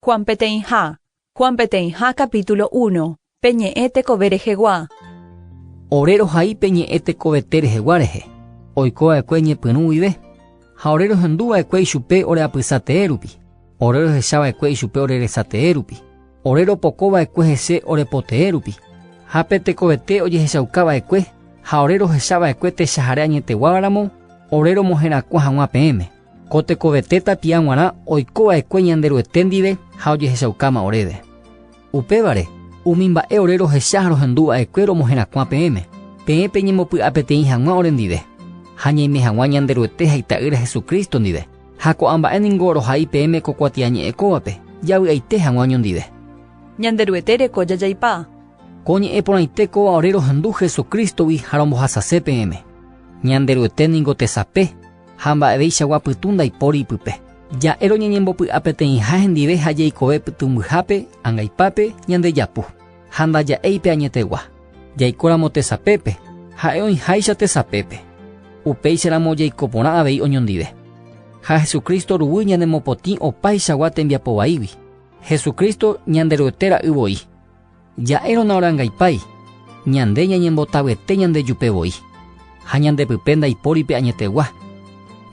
Juan peteĩha, Juan peteĩha capítulo uno, pe ñe'ẽ tekove rehegua. Ore rohai pe ñe'ẽ tekovete rehegua rehe, oiko va'ekue ñepyrũ guive, ha ore rohendu va'ekue ichupe ore apysa tee rupi, ore rohecha va'ekue ichupe ore resa tee rupi, ore ropoko va'ekue hese ore po tee rupi, ha pe tekovete ojehechauka va'ekue, ha ore rohecha va'ekue techahare añeteguáva ramo, ore romoherakuã haguã peẽme. Ko tekovete tapia g̃uarã oiko va'ekue Ñanderuete ndive ha ojehechaukáma oréve. Upévare, umi mba'e ore rohecha ha rohendu va'ekue romoherakuã peẽme, peẽ peñembopy'a peteĩ hag̃ua orendive, ha ñaime hag̃ua Ñanderuete ha Ita'ýra Jesucristo ndive, ha ko'ã mba'e ningo rohai peẽme ko kuatiañe'ẽ kóvape, javy'aite hag̃ua oñondive. Ñanderuete reko jajaipa. Ko ñe'ẽ porãite kóva ore rohendu Jesucristo-gui ha rombohasase peẽme. Ñanderuete ningo tesape. Ha mba'eveichagua pytũ ndaipóri ipype. Ja'e roñeñembopy'a peteĩha hendive ha jeikove pytũmbyhápe, angaipápe, ñande japu. Ha ndaja'éi pe añetegua. Jaikóramo tesapépe, ha'e oĩháicha tesapépe. Upéicharamo jaiko porã avei oñondive. Ha Jesucristo ruguy ñanemopotĩ opaichagua tembiapo vaígui. Jesucristo Ñanderuete ra'y voi. Ja'érõ naorangaipái, ñande ñañembotavete ñandejupe voi, ha ñande pype ndaipóri pe añetegua.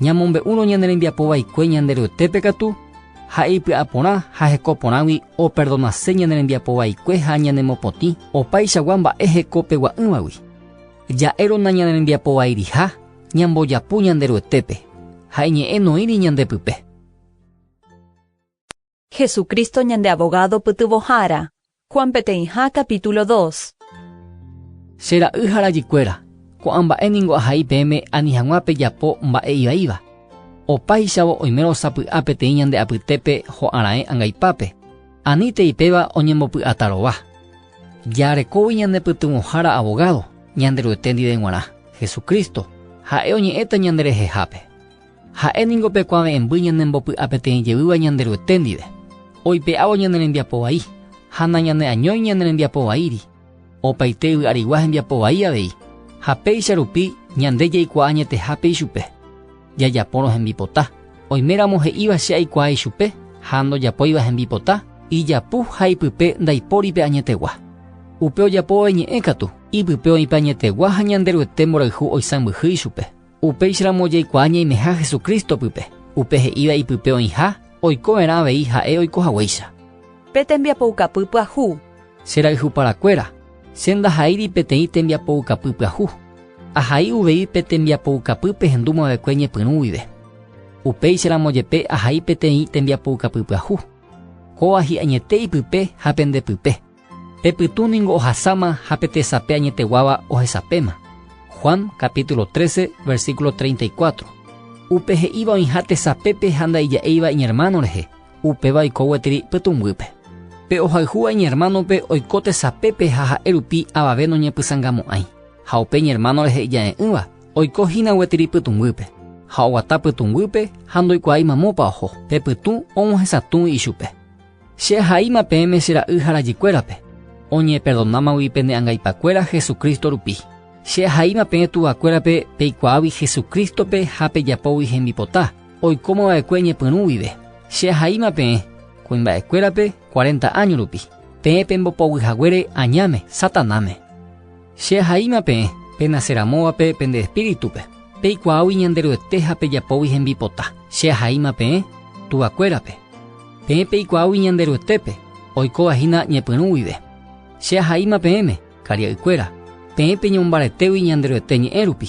Ñamombe'úrõ ñane rembiapo vaikue ñande ryetépe katu, ha'e ipy'a porã ha heko porãgui operdonase ñane rembiapo vaikue ha ñanemopotĩ opaichagua mba'e heko pegua'ỹvagui. Ja'érõ nañane rembiapo vairiha ñambojapu ñande ryetépe, ha iñe'ẽ noĩri ñande pype. Jesucristo ñande Abogado pytyvõhára. Juan peteĩha capítulo dos. Che ra'y ha rajykuéra, ko'ã mba'e ningo ahai peẽme ani hag̃ua pejapo mba'e ivaíva. Opáichavo oimérõ osapy'a peteĩ ñande apytépe ho'a raẽ angaipápe, anítei péva oñembopy'ata rova. Jarekógui ñane pytyvõhára Abogado, Ñanderuete ndive g̃uarã, Jesucristo, ha'e oñe'ẽta ñanderehehápe. Ha'e ningo pe kuave'ẽmby ñanembopy'a peteĩ jevýva Ñanderuete ndive, oipe'ávo ñane rembiapo vai, ha nañane'añói ñane rembiapo vaíri, opaite yvy'arigua hembiapo vai avei, ha péicha rupi ñande jaikuaa añetehápe ichupe, jajapórõ hembipota. Oiméramo he'íva che aikuaa ichupe ha ndojapóiva hembipota, ijapu ha ipype ndaipóri pe añetegua. Upe ojapóva iñe'ẽ katu, ipype oĩ pe añetegua ha Ñanderuete mborayhu oisãmbyhy ichupe. Upéicharamo jaikuaa ñaimeha Jesucristo pype, upe he'íva ipype oĩha, oikova'erã avei ha'e oiko haguéicha. Pe tembiapoukapy pyahu. Che rayhuparakuéra, che ndahaíri peteĩ tembiapoukapy pyahu. Ahai uvei pe tembiapoukapy pehendumavekue ñepyrũ guive. Upéicharamo jepe ahai peteĩ tembiapoukapy pyahu. Kóva hi'añete ipype ha pende pype. Pe pytũ ningo ohasáma ha pe tesape añeteguáva ohesapéma. Juan capítulo 13, versículo 34. Upe he'íva oĩha tesapépe ha ndaija'éiva iñermáno rehe, upéva oiko gueteri pytũnguýpe. Pe ohayhúva iñermánope oiko tesapépe ha ha'e rupi avave noñepysangamo'ãi, ha upe iñermáno rehe ijare'ỹva oiko hína gueteri pytũnguýpe, ha oguata pytũnguýpe ha ndoikuaái mamópa oho, pe pytũ og̃uahẽsatũgui ichupe. Che ahaíma peẽme che ra'y ha rajykuérape, oñeperdonámagui pene angaipakuéra Jesucristo rupi. Che ahaíma peẽ tuvakuérape peikuaágui Jesucristo-pe ha pejapógui hembipota, oikóma va'ekue ñepyrũ guive. Che ahaíma peẽ, kuimba'ekuérape, cuarenta áño rupi, peẽ pembopoguy haguére añáme, Satanáme. Che ahaíma peẽ, penase ramóvape pende espíritu-pe, peikuaágui Ñanderuete ha pejapógui hembipota. Che ahaíma peẽ, tuvakuérape, peẽ peikuaágui Ñanderuetépe, oikóva hína ñepyrũ guive. Che ahaíma peẽme, karia'ykuéra, peẽ peñombaretégui Ñanderuete ñe'ẽ rupi,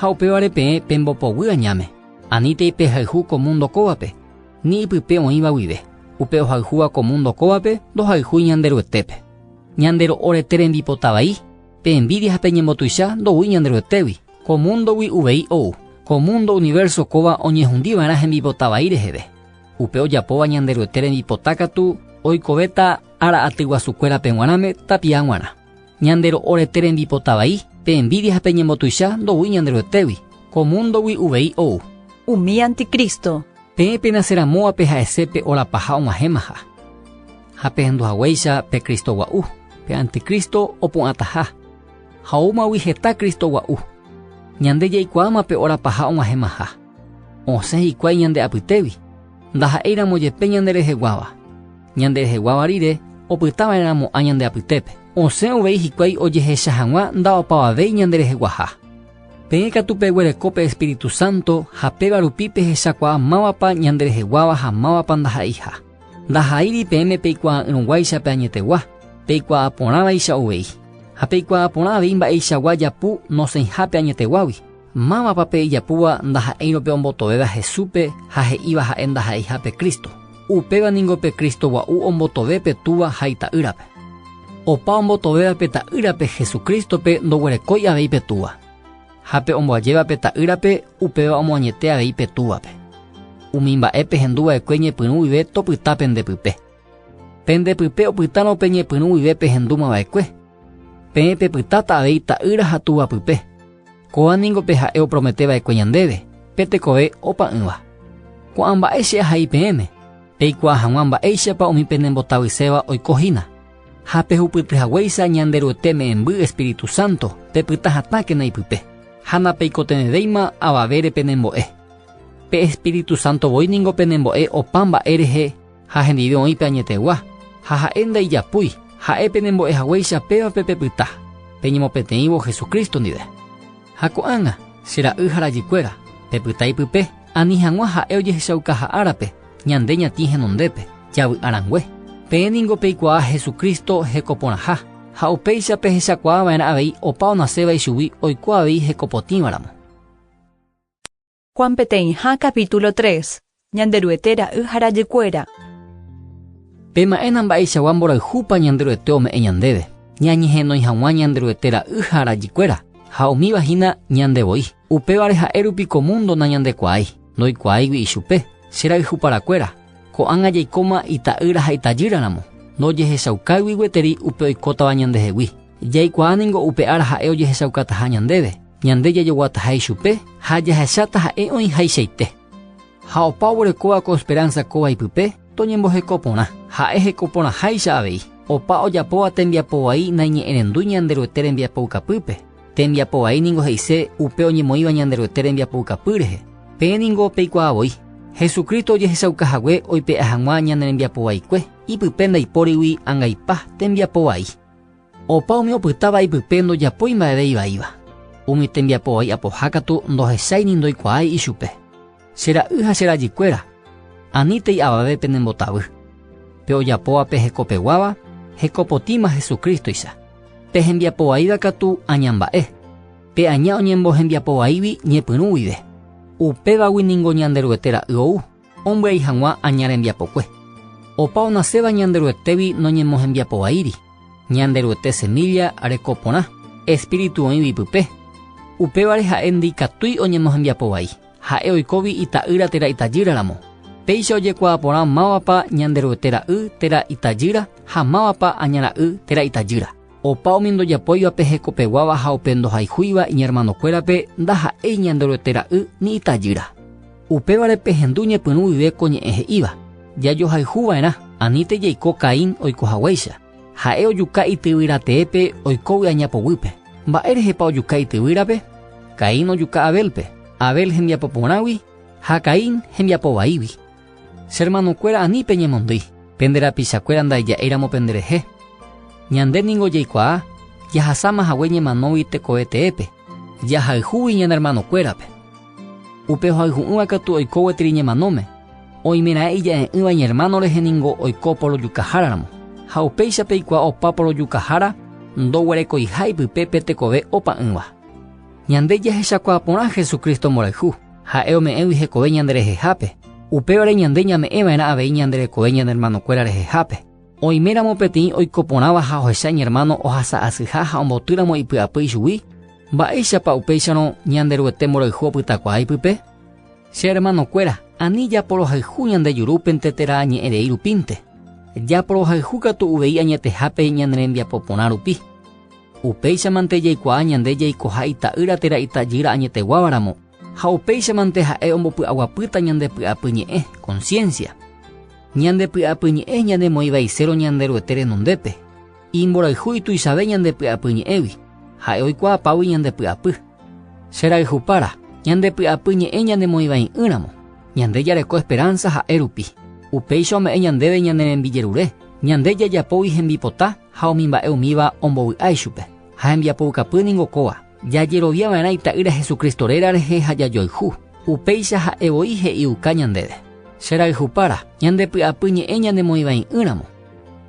ha upévare peẽ pembopoguy añáme, anítei pehayhu ko múndo kóvape, ni ypype oĩva guive. Upe ohayhúva ko múndo kóvape ndohayhúi Ñanderuetépe. Ñande ro'orete rembipota vai, pe envídia ha pe ñembotuicha ndoúi ñande roetégui. Ko múndogui uvei ou, ko múndo, universo, kóva oñehundi va'erã hembipota vai reheve. Upe ojapóva ñande roete rembipota katu oikovéta ára aty guasu kuérape g̃uarãme tapia g̃uarã. Ñande ro'orete rembipota vai, pe envídia ha pe ñembotuicha ndoúi ñande roetégui. Ko múndogui uvei ou. Umi anticristo. Peẽ penace ramóvape ha'ese pe ora paha og̃uahẽmaha. ha pehendu haguéicha pe Cristo gua'u, pe anticristo opu'ãtaha. Ha oúmagui heta Cristo gua'u. Ñande jaikuaáma pe óra paha og̃uahẽmaha. Osẽ hikuái ñande apytégui, ndaha'éiramo jepe ñandereheguáva. Ñandereheguáva rire opytava'erãmo'ã ñande apytépe. Osẽ uvei hikuái ojehecha hag̃ua nda'opavavéi ñandereheguaha. Peẽ katu peguereko pe Espíritu Santo ha péva rupi pehechakuaa mávapa ñandereheguáva ha mávapa ndaha'eiha. Ndaha'éiri peẽme peikuaa'ỹrõguáicha pe añetegua, peikuaa porãvaicha uvei. Ha peikuaa porã avei mba'eichagua japu nosẽiha pe añeteguágui. Mávapa pe ijapúva ndaha'éirõ pe ombotovéva Jesúspe ha he'íva ha'e ndaha'eiha pe Cristo? Upéva ningo pe Cristo gua'u ombotove pe Túva ha Ita'ýrape. Opa ombotovéva pe Ta'ýrape Jesucrístope ndoguerekói avei pe Túva. ha pe omboajéva pe ta'ýrape upéva omoañete avei pe túvape. Umi mba'e pehendu va'ekue ñepyrũ guive topyta pende pype. Pende pype opytárõ pe ñepyrũ guive pehendúma va'ekue, peẽ pepytáta avei ta'ýra ha túva pype. Kóva ningo pe Ha'e opromete va'ekue ñandéve, pe tekove opa'ỹva. Ko'ã mba'e che ahai peẽme, peikuaa hag̃ua mba'éichapa umi penembotavyiséva oiko hína. Ha pehupyty haguéicha Ñanderuete me'ẽmby Espíritu Santo, pepyta hatãkena ipype, ha napeikotevẽvéima avavére penembo'e. Pe Espíritu Santo voi ningo penembo'e opa mba'e rehe ha hendive oĩ pe añetegua, ha ha'e ndaijapúi, ha'e penembo'e haguéicha pévape pepyta, peñemopeteĩvo Jesucristo ndive. Ha ko'ág̃a, che ra'y ha rajykuéra, pepyta ipype, ani hag̃ua ha'e ojehechaukaha árape, Ñande ñatĩ henondépe, javy'a rangue. Peẽ ningo peikuaa Jesucristo hekoporãha, ha upéicha pehechakuaa va'erã avei opa onaséva ichugui oiko avei hekopotĩvaramo. Juan peteĩha capítulo tres. Ñanderuete ra'y ha rajykuéra. Pema'ẽna mba'eichagua mborayhúpa Ñanderuete ome'ẽ ñandéve, ñañehenói hag̃ua Ñanderuete ra'y ha rajykuéra, ha umívahína ñande voi. Upévare ha'e rupi ko múndo nañandekuaái. Ndoikuaáigui ichupe, che rayhu parakuéra, ko'ág̃a jaikóma ita'ýra ha itajýra ramo, ndojehechaukáigui gueteri upe oikótava ñandehegui. Jaikuaa ningo upe ára ha'e ojehechaukataha ñandéve, ñande jajoguataha ichupe ha jahecháta ha'e oĩhaichaite. Ha opa oguerekóva ko esperánsa kóva ipype toñemboheko porã, ha'e heko porãháicha avei. Opa ojapóva tembiapo vai naiñe'ẽrendúi Ñanderuete rembiapoukapýpe. Tembiapo vai ningo he'ise upe oñemoĩva Ñanderuete rembiapoukapy rehe. Peẽ ningo peikuaa voi, Jesucristo ojehechauka hague oipe'a hag̃ua ñane rembiapo vaikue, ipype ndaipórigui angaipa tembiapo vai. Opa umi opytáva ipype ndojapói mba'eve ivaíva. Umi tembiapo vai apoha katu ndohechái ni ndoikuaái ichupe. Che ra'y ha che rajykuéra, anítei avave penembotavy. Pe ojapóvape hekopeguáva, hekopotĩma Jesucrístoicha. Pe hembiapo vaíva katu aña mba'e, pe aña oñembohembiapo vaígui ñepyrũ guive. Upévagui ningo Ñanderuete ra'y ou ombyai hag̃ua aña rembiapokue. Opa onaséva Ñanderuetégui noñemohembiapo vaíri, Ñanderuete semílla reko porã, espíritu oĩgui pype, upévare ha'e ndikatúi oñemohembiapo vai. Ha'e oikóvi ita'ýra térã itajýra ramo. Péicha ojekuaa porã mávapa Ñanderuete ra'y térã itajýra ha mávapa aña ra'y térã itajýra. Opa umi ndojapóivape hekopeguáva ha upe ndohayhúiva iñermanokuérape ndaha'éi Ñanderuete ra'y ni itajýra. Upévare pehendu ñepyrũ guive ko ñe'ẽ he'íva, Jajohayhu va'erã, anítei jaiko Caín oiko haguéicha. Ha'e ojuka ityvyra teépe oikógui añapoguýpe. Mba'e rehepa ojuka ityvyrape? Caín ojuka Abélpe, Abel hembiapo porãgui ha Caín hembiapo vaígui. Che ermanokuéra ani peñemondýi, pende rapichakuéra ndaija'éiramo penderehe. Ñande ningo jaikuaa jahasáma hague ñemanógui tekoveteépe, jahayhúgui ñane ermanokuérape. Upe ohayhu'ỹva katu oiko gueteri ñemanóme, oimeraẽ ija'e'ỹva iñermáno rehe ningo oiko porojukaháraramo. Ha upéicha peikuaa opa porojukahára ndoguerekoiha ipype pe tekove opa'ỹva. Ñande jahechakuaa porã Jesucristo mborayhu, ha'e ome'ẽgui hekove ñanderehehápe, upévare ñande ñame'ẽva'erã avei ñande rekove ñane ermanokuéra rehehápe. Oiméramo peteĩ oiko porãva ha ohecha iñermáno ohasa'asyha ha ombotýramo ipy'apy ichugui, Mba'éichapa upéicharõ Ñanderuete mborayhu opytakuaa ipype? Che hermanokuéra, ani japorohayhu ñande jurúpente térã añe'ẽ rei rupínte, japorohayhu katu uvei añetehápe ñane rembiapo porã rupi. Upéichamante jaikuaa ñande jaikoha Ita'ýra térã Itajýra añeteguávaramo, ha upéichamante ha'e ombopy'aguapýta ñande py'apy ñe'ẽ, conciencia. Ñande py'apy ñe'ẽ ñanemoĩvaisérõ Ñanderuete renondépe. Imborayhu ituichave ñande py'apy ñe'ẽgui, ha'e oikuaapágui ñande py'apy. Che rayhupára, ñande py'apy ñe'ẽ ñanemoĩvai'ỹramo, ñande jareko esperánsa ha'e rupi. Upéicha ome'ẽ ñandéve ñane rembijerure, ñande jajapógui hembipota ha umi mba'e umíva ombovy'a ichupe. Ha hembiapoukapy ningo kóva, jajerovia va'erã Ita'ýra Jesucristo réra rehe ha jajoayhu. Upéicha ha'e voi he'iuka ñandéve. Che rayhupára, ñande py'apy ñe'ẽ ñanemoĩvai'ỹramo,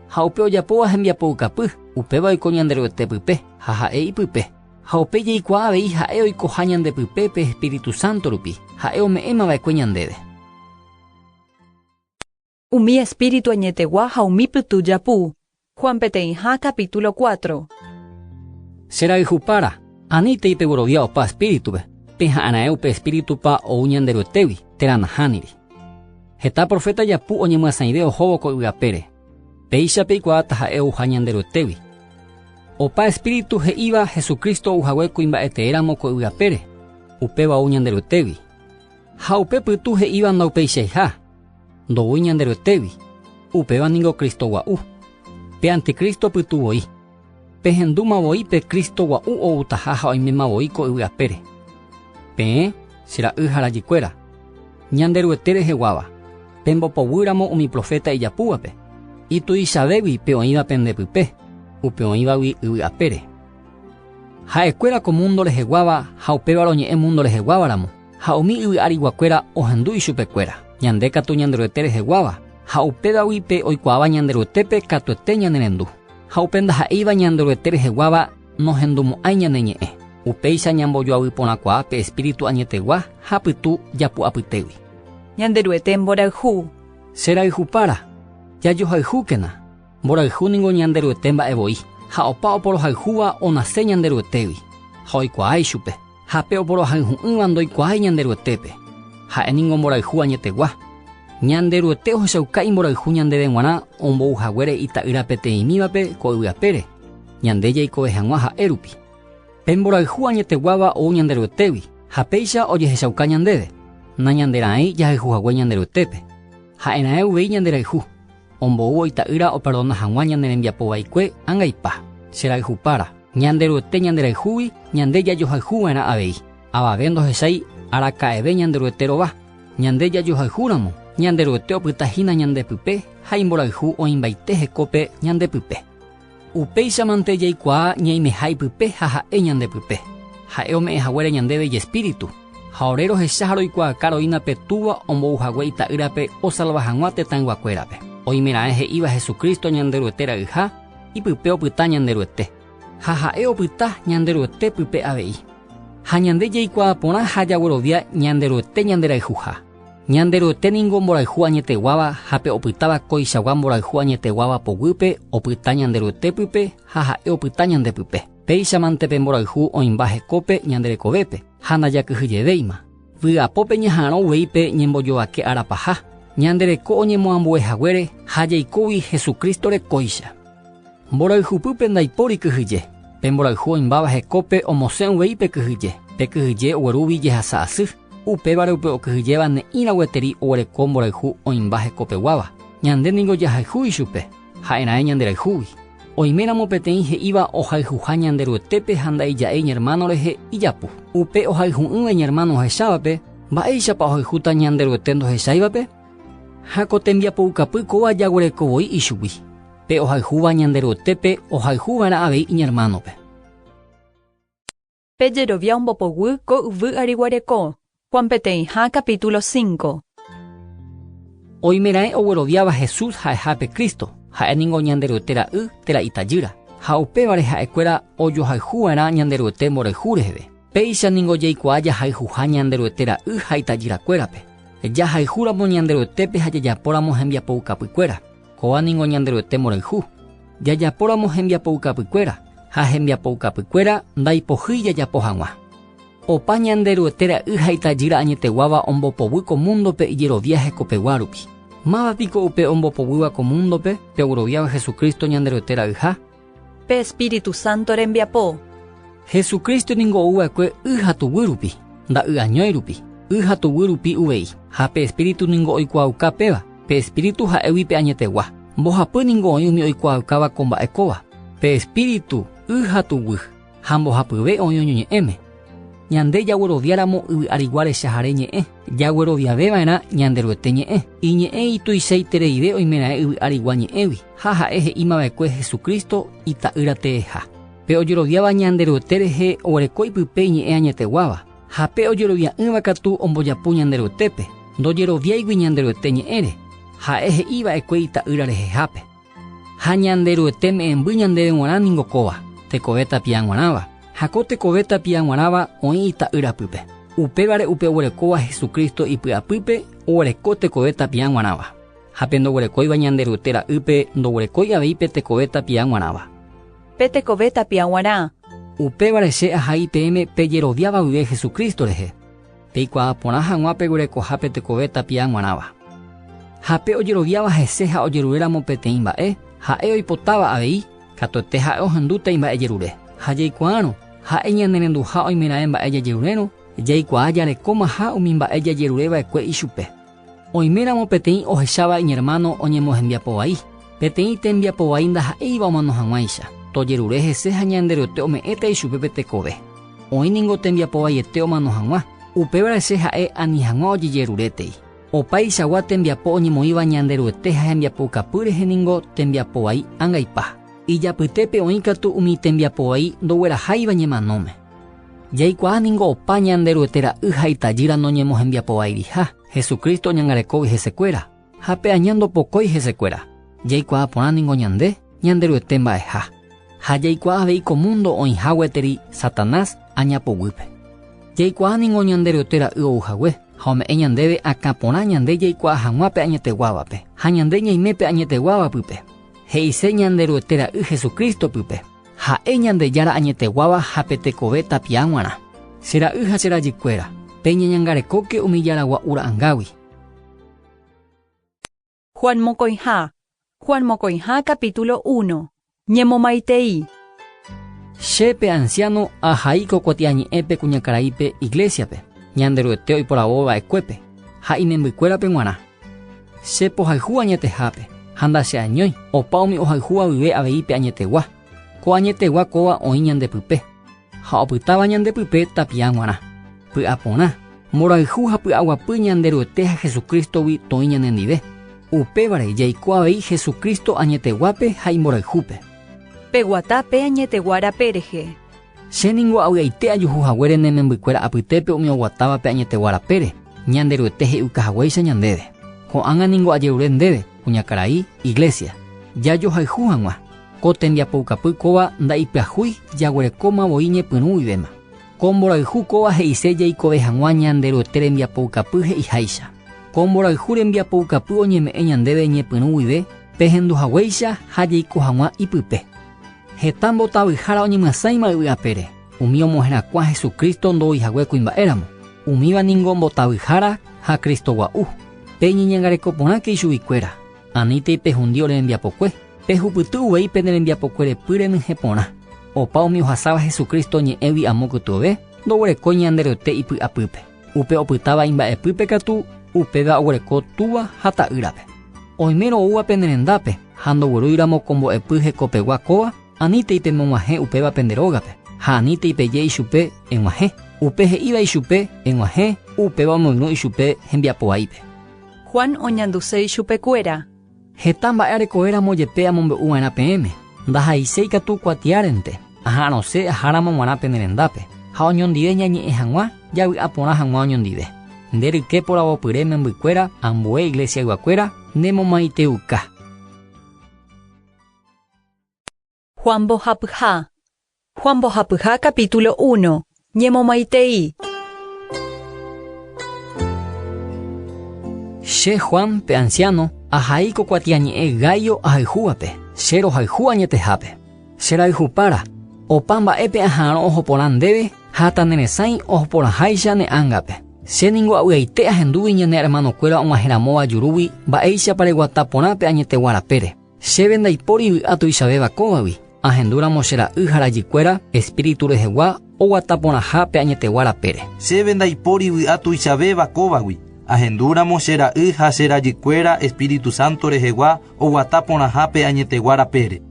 Ha upe ojapóva hembiapoukapy, upéva oiko Ñanderuete pype ha ha'e ipype. Ha upe jaikuaa avei ha'e oikoha ñande pype pe espíritu sánto rupi, ha'e ome'ẽma va'ekue ñandéve. Umi espíritu añetegua ha umi pytu japu. Juan peteĩha capítulo cuatro. Che rayhupára, aníntei peguerovia opa espíritu-pe, peha'ãraẽ upe espíritu-pa ou Ñanderuetégui, térã nahániri. Heta proféta japu oñemyasãive ohóvo ko yvy apére, péicha peikuaa taha'e ouha Ñanderuetégui. Opa espíritu he'íva Jesucristo ou hague kuimba'eteéramo ko yvy apére, upéva ou Ñanderuetégui. Ha upe pytu he'íva ndaupeichaiha, ndoúi Ñanderuetégui, upéva ningo Cristo gua'u, pe anticristo pytu voi. Pehendúma voi pe Cristo gua'u outaha ha oiméma voi ko yvy apére. Peẽ, che ra'y ha rajykuéra, Ñanderuete reheguáva, pembopoguýramo umi proféta ijapúvape, ituichavégui pe oĩva pende pype, upe oĩvagui yvy apére. Ha'ekuéra ko múndo reheguáva ha upéva roñe'ẽ múndo reheguávaramo, ha umi yvy ariguakuéra ohendu ichupekuéra. Ñande katu Ñanderuete reheguáva, ha upévagui pe oikuaáva Ñanderuetépe katuete ñanerendu. Ha upe ndaha'éiva Ñanderuete reheguáva nohendumo'ãi ñane ñe'ẽ. Upéicha ñambojoavy porãkuaa pe Espíritu añetegua ha pytu japu'apytégui. Ñanderuete mborayhu. Che rayhupára, jajohayhúkena, mborayhu ningo Ñanderuete mba'e voi, ha opa oporohayhúva onase Ñanderuetégui, ha oikuaa ichupe. Ha pe oporohayhu'ỹva ndoikuaái Ñanderuetépe, ha'e ningo mborayhu añetegua. Ñanderuete ohechauka imborayhu ñandéve g̃uarã ombou haguére Ita'ýra peteĩmívape ko yvy apére, ñande jaikove hag̃ua ha'e rupi. Pe mborayhu añeteguáva ou Ñanderuetégui, ha péicha ojehechauka ñandéve, nañanderãi jahayhu hague Ñanderuetépe, ha'erãe uvei ñanderayhu. Omboúvo Ita'ýra operdona hag̃ua ñane rembiapo vaikue angaipa, che rayhupára. Ñanderuete ñanderayhúgui ñande jajohayhu va'erã avei. Avave ndohechái araka'eve Ñanderuete rova. Ñande jajohayhúramo, Ñanderuete opyta hína ñande pype ha imborayhu oĩmbaite hekópe ñande pype. Upéichamante jaikuaa ñaimeha ipype ha ha'e ñande pype. Ha'e ome'ẽ haguére ñandéve ijespíritu, ha ore rohecha ha roikuaaka roína pe Túva ombou hague Ita'ýrape osalva hag̃ua tetãyguakuérape. Oimeraẽ he'íva Jesucristo Ñanderuete rayha, ipype opyta Ñanderuete, ha ha'e opyta Ñanderuete pype avei. Ha ñande jaikuaa porã ha jaguerovia Ñanderuete ñanderayhuha. Ñanderuete ningo mborayhu añeteguáva ha pe opytáva koichagua mborayhu añeteguáva poguýpe opyta Ñanderuete pype ha ha'e opyta ñande pype. Péichamante pe mborayhu oĩmba hekópe ñande rekovépe ha ndajakyhyjevéima. Vy'apópe ñaha'arõ uvei pe ñembojovake ára paha, ñande reko oñemoambue haguére ha jaikógui Jesucristo-re kóicha. Mborayhupýpe ndaipóri kyhyje. Pe mborayhu oĩmbáva hekópe omosẽ uvei pe kyhyje, pe kyhyje oguerúgui jehasa asy. Upévare upe okyhyjéva ne'ĩrã gueteri oguereko mborayhu oĩmba hekopeguáva, ñande ningo jahayhu ichupe, ha'e raẽ ñanderayhúgui. Oiméramo peteĩ he'íva ohayhuha Ñanderuetépe ha nda'ija'e iñermáno rehe ijapu. Upe ohayhu'ỹva iñermáno ohechávape, mba'éichapa ohayhúta Ñanderuete ndohecháivape? Ha ko tembiapoukapy kóva jaguereko voi ichugui, pe ohayhúva Ñanderuetépe ohayhu va'erã avei iñermánope. Pe jerovia ombopoguy ko yvy ary guareko. Juan peteĩha capítulo 5. Oimeraẽ ogueroviáva Jesús ha'eha pe Cristo, ha'e ningo Ñanderuete Ra'y térã Itajýra, ha upévare ha'ekuéra ojohayhuva'erã Ñanderuete mborayhu reheve. Péicha ningo jaikuaa jahayhuha Ñanderuete Ra'y ha Itajyrakuérape, jahayhúramo Ñanderuetépe ha jajapóramo hembiapoukapykuéra. Kóva ningo Ñanderuete morayhu. Jajapóramo hembiapoukapykuéra, ha hembiapoukapykuéra ndaipohýi jajapo hag̃ua. Opa Ñanderuete ra'y ha itajýra añeteguáva ombopoguy ko múndope ijerovia hekopegua rupi. Máva piko upe ombopoguýva ko múndope pegueroviáva Jesucristo Ñanderuete ra'yha? Pe Espíritu Santo rembiapo. Jesucristo ningo ou va'ekue y ha tuguy rupi, nda'y'añói rupi, y ha tuguy rupi uvei. Ha pe Espíritu ningo oikuaauka péva, pe Espíritu ha'égui pe añetegua. Mbohapy ningo oĩ umi oikuaaukáva ko mba'e kóva, pe Espíritu, y ha tuguy. ha mbohapyve oĩ oñoñe'ẽme. Ñande jagueroviáramo yvy arigua rechahare ñe'ẽ, jagueroviaveva'erã Ñanderuete ñe'ẽ. Iñe'ẽ ituichaitereive oimeraẽ yvy arigua ñe'ẽgui, ha ha'e he'imava'ekue Jesucristo Ita'ýra teeha. Pe ojeroviáva Ñanderuete rehe oguereko ipype iñe'ẽ añeteguáva, ha pe ojerovia'ỹva katu ombojapu Ñanderuetépe, ndojeroviáigui Ñanderuete ñe'ẽre, ha'e he'iva'ekue Ita'ýra rehehápe. Ha Ñanderuete me'ẽmby ñandéve g̃uarã ningo kóva, tekove tapia g̃uarãva. Ha ko tekove tapia g̃uarãva oĩ Ita'y rapýpe. Upévare upe oguerekóva Jesucristo ipy'apýpe oguereko tekove tapia g̃uarãva. Ha pe ndoguerekóiva Ñanderuete ra'ýpe ndoguerekói avei pe tekove tapia g̃uarãva. Pe tekove tapia g̃uarã. Upévare che ahai peẽme pejeroviáva guive Jesucristo rehe. Peikuaa porã hag̃ua peguerekoha pe tekove tapia g̃uarãva. Ha pe ojeroviáva hese ha ojeruréramo peteĩ mba'e, ha'e oipotáva avei, katuete ha'e ohendúta imba'ejerure. Ha jaikuaárõ, ha'e ñanerenduha oimeraẽ mba'e jajerurérõ, jaikuaa jarekómaha umi mba'e jajerureva'ekue ichupe. Oiméramo peteĩ ohecháva iñermáno oñemohembiapo vai, peteĩ tembiapo vai ndaha'éiva omano hag̃uáicha, tojerure hese ha Ñanderuete ome'ẽta ichupe pe tekove. Oĩ ningo tembiapo vaiete omano hag̃ua, upévare che ha'e ani hag̃ua ojejerurétei. Opaichagua tembiapo oñemoĩva Ñanderuete ha hembiapoukapy rehe ningo tembiapo vai angaipa. Ijapytépe oĩ katu umi tembiapo vai ndogueraháiva ñemanóme. Jaikuaa ningo opa Ñanderuete ra'y ha itajýra noñemohembiapovairiha, Jesucristo oñangarekógui hesekuéra, ha pe aña ndopokói hesekuéra. Jaikuaa porã ningo ñande, Ñanderuete mba'eha. Ha jaikuaa avei ko múndo oĩha gueteri Satanás aña poguýpe. Jaikuaa ningo Ñanderuete ra'y ou hague, ha ome'ẽ ñandéve akã porã ñande jaikuaa hag̃ua pe añeteguávape, ha ñande ñaime pe añeteguáva pype, he'ise Ñanderuete ra'y Jesucristo pype. Ha'e Ñandejára añeteguáva ha pe tekove tapia g̃uarã. Che ra'y ha che rajykuéra, peñeñangarekóke umi Jára Gua'u ra'ãngágui. Juan mokõiha Juan mokõiha capítulo uno. Ñemomaitei. Che, pe anciáno, ahai ko kuatiañe'ẽpe kuñakaraípe iglésiape, Ñanderuete oiporavova'ekuépe, ha imembykuérape g̃uarã. Che pohayhu añetehápe, ha ndacheañói, opa umi ohayhu avyve avei pe añetegua. Ko añetegua kóva oĩ ñande pype, ha opytáva ñande pype tapiã g̃uarã. Py'a porã, mborayhu ha py'aguapy ñande Ruete ha Jesucristo-gui toĩ ñanendive, upévare jaiko avei Jesucristo añeteguápe ha imborayhúpe. Peguata pe añetegua rape rehe. Che ningo avy'aite ajuhu haguére ne membykuéra apytépe umi oguatávape añetegua rapére, Ñanderuete he'iuka haguéicha ñandéve. Ko'ág̃a ningo ajerure ndéve, kuñakarai, Iglésia, jajohayhu hag̃ua. Ko tembiapoukapy kóva nda'ipyahúi jaguerekóma voi ñepyrũ guivéma. Ko mborayhu kóva he'ise jaikove hag̃ua Ñanderuete rembiapoukapy he'iháicha. Ko mborayhu rembiapoukapy oñeme'ẽ ñandéve ñepyrũ guive pehendu haguéicha ha jaiko hag̃ua ipype. Heta mbotavyhára oñemyasãima yvy apére, umi omoherakuã Jesucristo ndoúi hague kuimba'éramo. Umíva ningo mbotavyhára ha Cristo gua'u. Peñeñangareko porãke ichuguikuéra, anítei pehundi ore rembiapokue. Pehupyty uvei pene rembiapokuerepy renyhẽ porã. Opa umi ohasáva Jesucristo ñe'ẽgui amo kytuove, ndoguerekói Ñanderuete ipy'apýpe. Upe opytáva imba'epýpe katu, upéva oguereko túva ha ta'ýrape. Oimérõ oúva pene rendápe ha ndogueroíramo ko mbo'epy hekopegua kóva, anítei pemog̃uahẽ upéva pende rógape, ha anítei peje ichupe, Eg̃uahẽ. Upe he'íva ichupe, Eg̃uahẽ, upéva omoirũ ichupe hembiapovaípe. Juan oñanduse ichupekuéra. Heta mba'e areko'éramo jepe amombe'u va'erã peẽme, ndahaiséi katu kuatiárente, aha'arõse aháramo g̃uarã pene rendápe, ha oñondive ñañe'ẽ hag̃ua, javy'a porã hag̃ua oñondive. Nde ryke poravopyre membykuéra ambue iglesiayguakuéra nemomaiteuka. Juan mbohapyha. Juan mbohapyha capítulo uno. Ñemomaitei. Che Juan, pe anciano, ahai ko kuatiañe'ẽ Gaio ahayhúvape, che rohayhu añetehápe. Che rayhupára, opa mba'épe aha'arõ oho porã ndéve ha taneresãi oho porãháicha ne ángape. Che ningo avy'aite ahendúgui ñane ermanokuéra og̃uahẽramóva jurúgui mba'éichapa reguata porã pe añetegua rapére. Chéve ndaipóri vy'a tuichavéva kóvagui, ahendúramo che ra'y ha rajykuéra espíritu rehegua oguata porãha pe añetegua rapére. Chéve ndaipóri vy'a tuichavéva kóvagui, ahendúramo che ra'y ha che rajykuéra espíritu santo rehegua oguata porãha pe añetegua rapére.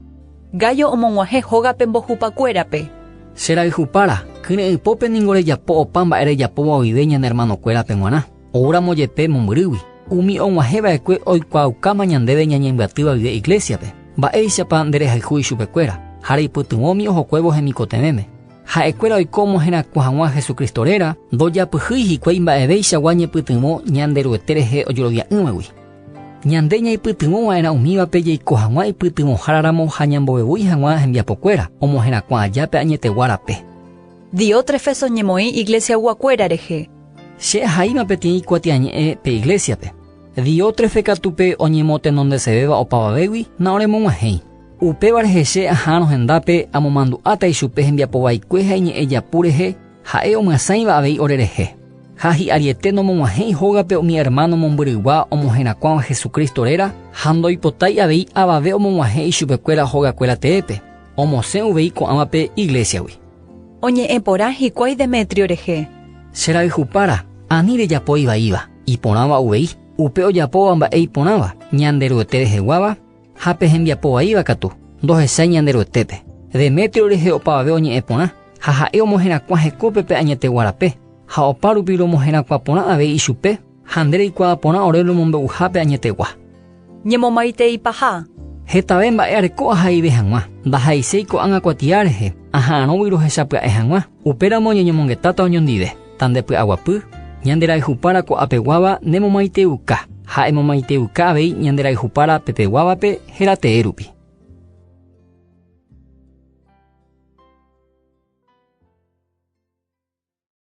Gayo omog̃uahẽ hógape mbohupakuérape. Che rayhupára, kyre'ỹ pópe ningo rejapo opa mba'e rejapóva oĩve ñane ermanokuérape g̃uarã. Oúramo jepe mombyrýgui, umi og̃uahẽ va'ekue oikuaaukáma ñandéve ñañembyatýva guive iglésiape. Mba'éichapa nderehayhu ichupekuéra ha reipytyvõmi ohokuévo hemikotevẽme? Ha'ekuéra oiko omoherakuã hag̃ua Jesucristo réra, ndojapyhýi hikuái mba'evéichagua ñepytyvõ Ñanderuete rehe ojorovia'ỹvagui. Ñande ñaipytyvõ va'erã umívape jaiko hag̃ua ipytyvõhára ramo ha ñambovevúi hag̃ua hembiapokuéra omoherakuã aja pe añetegua rape. Diótrefeso ñemoĩ iglesiayguakuéra rehe. Che ahaíma peteĩ kuatiañe'ẽ pe iglésiape. Diótrefe katu pe oñemotenondesevéva opavavégui naoremog̃uahẽi. Upéva rehe che aha'arõ hendápe amomandu'áta ichupe hembiapo vaikue ha iñe'ẽ japu rehe, ha'e omyasãiva avei orerehe. Ha hi'ariete nomog̃uahẽi hógape umi ermáno mombyryguá omoherakuãva Jesucristo réra ha ndoipotái avei avave omog̃uahẽ ichupekuéra hogakuéra teépe. Omosẽ uvei ko'ãva pe iglésiagui. Oñe'ẽ porã hikuái Demetrio rehe. Che rayhupára, ani rejapo ivaíva, iporãva uvei, upe ojapóva mba'e iporãva, Ñanderuete reheguáva ha pe hembiapo vaíva katu, ndohechái Ñanderuetépe. Demetrio rehe opavave oñe'ẽ porã, ha ha'e omoherakuã hekópe pe añetegua rape, ha opárupi romoherakuã porã avei ichupe, Ha nde reikuaa porã ore romombe'uhápe añetegua. Ñemomaitei paha. Hetave mba'e areko ahaive hag̃ua. Ndahaiséi ko'ág̃a kuatia rehe, aha'arõgui rohechapya'e hag̃ua. Upéramo ñeñomongetáta oñondive, ta nde py'aguapy, ñande rayhupára ko'apeguáva nemomaiteiuka, ha emomaiteiuka avei ñande rayhupára pepeguávape héra tee rupi.